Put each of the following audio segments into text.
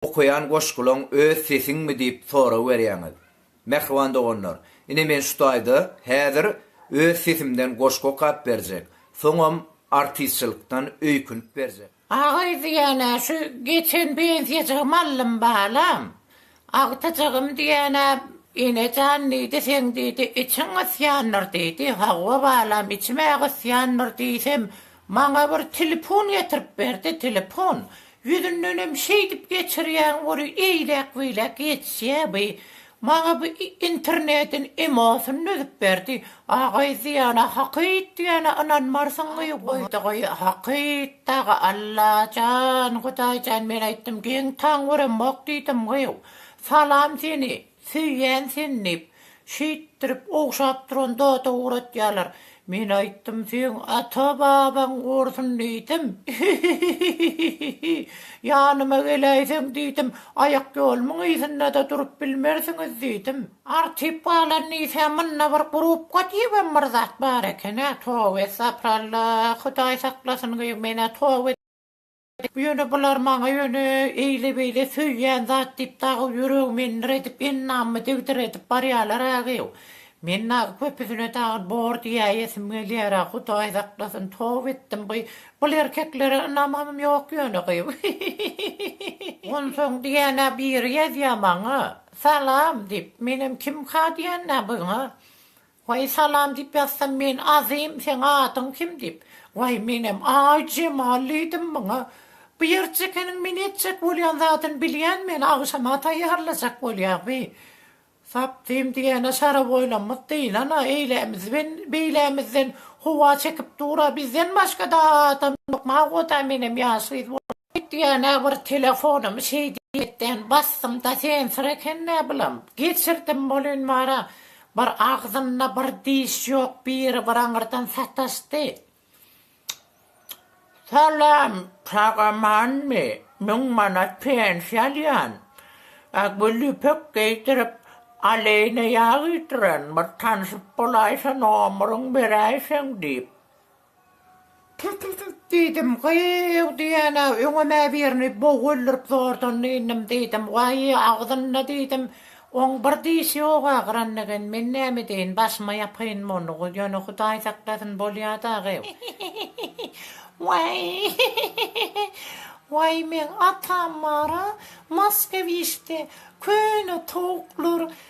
Okaýan goşgulaň öz sesiňmi diýip sorag berýäňiz. Mähriban doganlar, ine men şu taýda häzir öz sesimden goşgy okap berjek, soňam artistçylykdan öýkünip berjek. Agay diýenä şu geçen pensiýajygym aldym balam. Agtyjygym diýenä Enejan diýdi seň diýdi içiň gysýandyr diýdi. Hawa balam içim-ä gysýandyr diýsem maňa bir telefon getirip berdi, telefon. Ýüzündenem şeýdip geçirýäň ory eýläk-beýläk geçýä by. Maňa bu internetiň emosyny düzüp berdi. Agaý diýana hakyt diýana ynanmarsyň gyýw goýdy goý hakyt dagy Allajan Hudaýjan men aýtdym geň taň göremok diýdim gyýw. Salam seni. Söýýän seni diýip, şeýtdirip ogşap duran zada ugratýarlar. Men aýtdym, seň ata-babaň gursyn diýdim. Hihihihihi. Ýanyma geläýseň diýdim, aýakýolumyň yzynda-da durup bilmersiňiz diýdim. Artyp galan diýsä, munda bir grupka diýibem bir zat bar eken-ä. Toba estapyralla, Hudaý saklasyn, gyýw men-ä toba edip. Ýöne bular maňa ýöne eýle-beýle söýýän zat diýip dagy ýüregimi endir edip, ennamymy digdir edip barýalar-agew. Men dagy köpüsine dagy bor diýäýesim gelýär-ä, Hudaý saklasyn, toba etdim gyý. Bul erkeklere ynamym ýok ýöne gyý. Onsoň diýýän-ä biri ýazýar maňa, Salam! diýip, menem kimka diýýän-ä buňa. Waý salam diýip ýazsam men Azym seň adyň kim diýip waý menem aý Jemal diýdim muňa bu ýerjekeniň men etjek bolýan zadyny bilýän meni agşama taýýarlajak bolýa bi sapdym diýene şaraboýlamyz dynan a eýlämiz ben beýlämizden howa çekip dur a bizden başgada adam ýok magoda menem ýaş gyz bolup Hut ýene bir telefonumy şeý diýmekden basdym-da sensir eken näbilam, geçirdim bolyn bara, bir agzynda bir diş ýok biri bir aňyrdan sataşdy. Salam, sag amanmy, müň manat pensiýa alýan, a gül ýüpek geýdirip, aleýne ýag iýdiren bir tanşyp bolaýsa nomeriň beräýseň diýip. Tüt-tüt-tüt! diýdim. Gyýw! diýen-ä, öňem-ä birini bog öldürip zordan dynnym, diýdim. Waý, agzynda, diýdim, oň bir dişi ýok agyran eken. Men näme edeýin, başyma ýapaýyn muny, ýöne Hudaý saklasyn, bolýa dagy. Waý, waý, meň atam bar-a, Moskowişde köne towuklar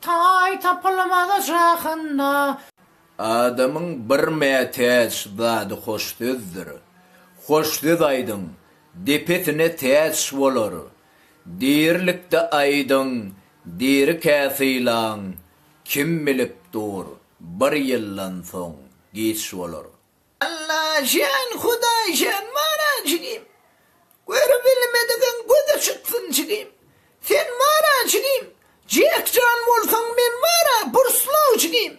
Taý tapylmaz jahanda. Adamyň bir mätäç zady hoş sözdür. Hoş söz aýdyň, depesine täç bolar. Dirilikde aýdyň, dirikä sylaň, kim bilip dur, bir ýyldan soň giç bolar. Allajan Hudaýjan bara jigim Görübilmedigiň gözi çyksyn jigim Sen bara jigim Jek jan bolsaň men baraBurslow jigim.